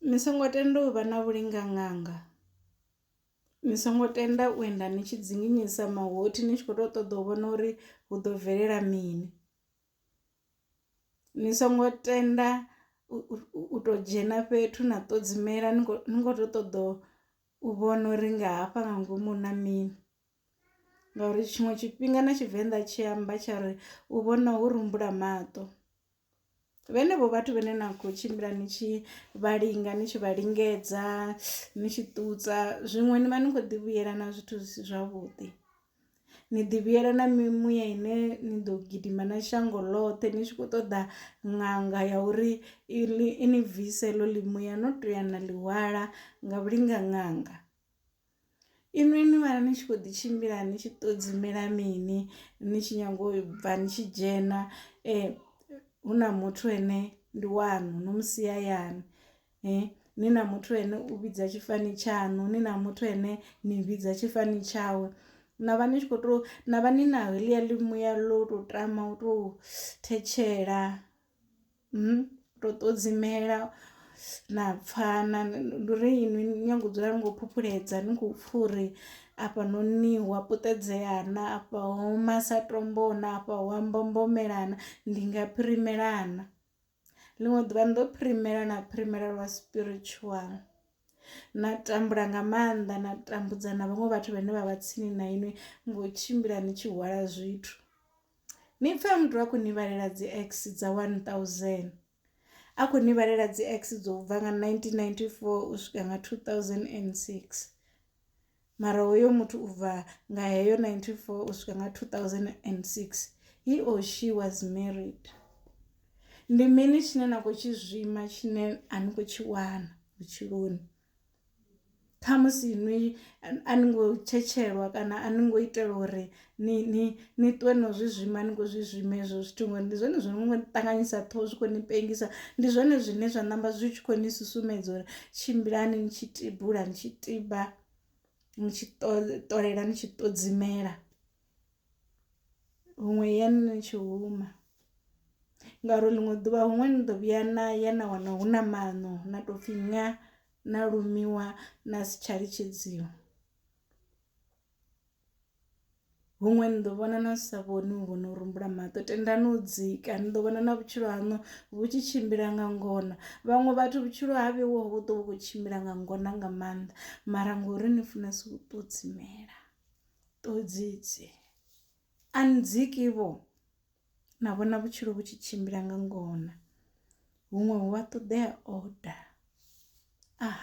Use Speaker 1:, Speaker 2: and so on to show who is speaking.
Speaker 1: Ni songo tenda u vha na vhulinganganga, ni songo tenda u enda ni tshi dzinginyisa mahothi ni tshi kho to ṱoḓa u vhona uri hu ḓo bvelela mini, ni songo tenda u to dzhena fhethu na ṱodzimela ni kho to ṱoḓa u vhona uri nga hafha nga ngomu hu na mini. ngauri tshiṅwe tshifhinga na tshivenḓa tshi amba tsha ri u vhona ho rumbula maṱo vhenevho vhathu vhene na khou tshimbila ni tshi vha linga ni tshi vha lingedza ni tshi ṱutsa zwiṅwe ni vha ni khou ḓi vhuyela na zwithu zwi si zwavhuḓi ni ḓi vhuyela na mimuya ine ni ḓo gidima na shango ḽoṱhe ni tshi khou ṱoḓa ṅanga ya uri i ni bvise ḽo ḽimuya no to ya na ḽihwala nga vhulinga ṅanga Inwi ni vha ni tshi kho ḓi tshimbila ni tshi ṱodzimela mini ni tshi nyanga u bva ni tshi dzhena eh hu na muthu ene ndi wanu no musia yani eh ni na muthu ene u vhidza tshifani tshaṋu ni na muthu ene ni vhidza tshifani tshawe na vha ni tshi kho to na vha ni na heḽia ḽi muya ḽo to tama u to thetshela. ndo ṱodzimela na pfhana ndi uri inwi ni nyanga u dzula ni kho phuphuledza ni khou pfha uri afha noni hu a puṱedzea na afha ho oma sa tombo na afha hu a mbombomela na ndi nga phirimela na. Ḽiṅwe ḓuvha ndo phirimela na phirimela lwa spiritual na tambula nga maanḓa na tambudza na vhaṅwe vhathu vhane vha vha tsini na inwi ngo tshimbila ni tshi hwala zwithu. Ni pfe muthu a khou ni vhalela dzi x dza 1000 a khou ni vhalela dzi x dzo bva nga 1994 u swika nga 2006 mara hoyo muthu u bva nga heyo 94 u swika nga 2006 he or she was married ndi mini tshine na khou tshi zwima tshine a ni khou tshi wana vhutshiloni Khamusi nwi a ni ngo tshetshelwa kana a ni ngo itelwa uri ni ni ni ṱuwe no zwi zwima ni kho zwi zwima hezwo zwithu ngori ndi zwone zwo no ṱanganyisa ṱhoho zwi kho ni pengisa ndi zwone zwine zwa ṋamba zwi tshi kho ni susumetsa uri tshimbilani ni tshi tibula ni tshi tiba ni tshi ṱolela ni tshi ṱodzimela. huṅwe ya ni ni tshi huma ngauri ḽiṅwe ḓuvha huṅwe ni ḓo vhuya na ya na wana hu na maṋo na to pfhi ṅa na lumiwa na si tsha litshedziwa. Huṅwe ni ḓo vhona na sa vhoni u vhono rembuluwa maṱo tendani u dzika ni ḓo vhona na vhutshilo haṋu vhu tshi tshimbila nga ngona vhaṅwe vhathu vhutshilo ha vheiwa hu ḓovha hu kho tshimbila nga ngona nga maanḓa mara ngori ni funesa u ṱodzimela. Ṱhodzi dzi a ndziki vho na vhona vhutshilo vhu tshi tshimbila nga ngona huṅwe hu a ṱoḓea order ah.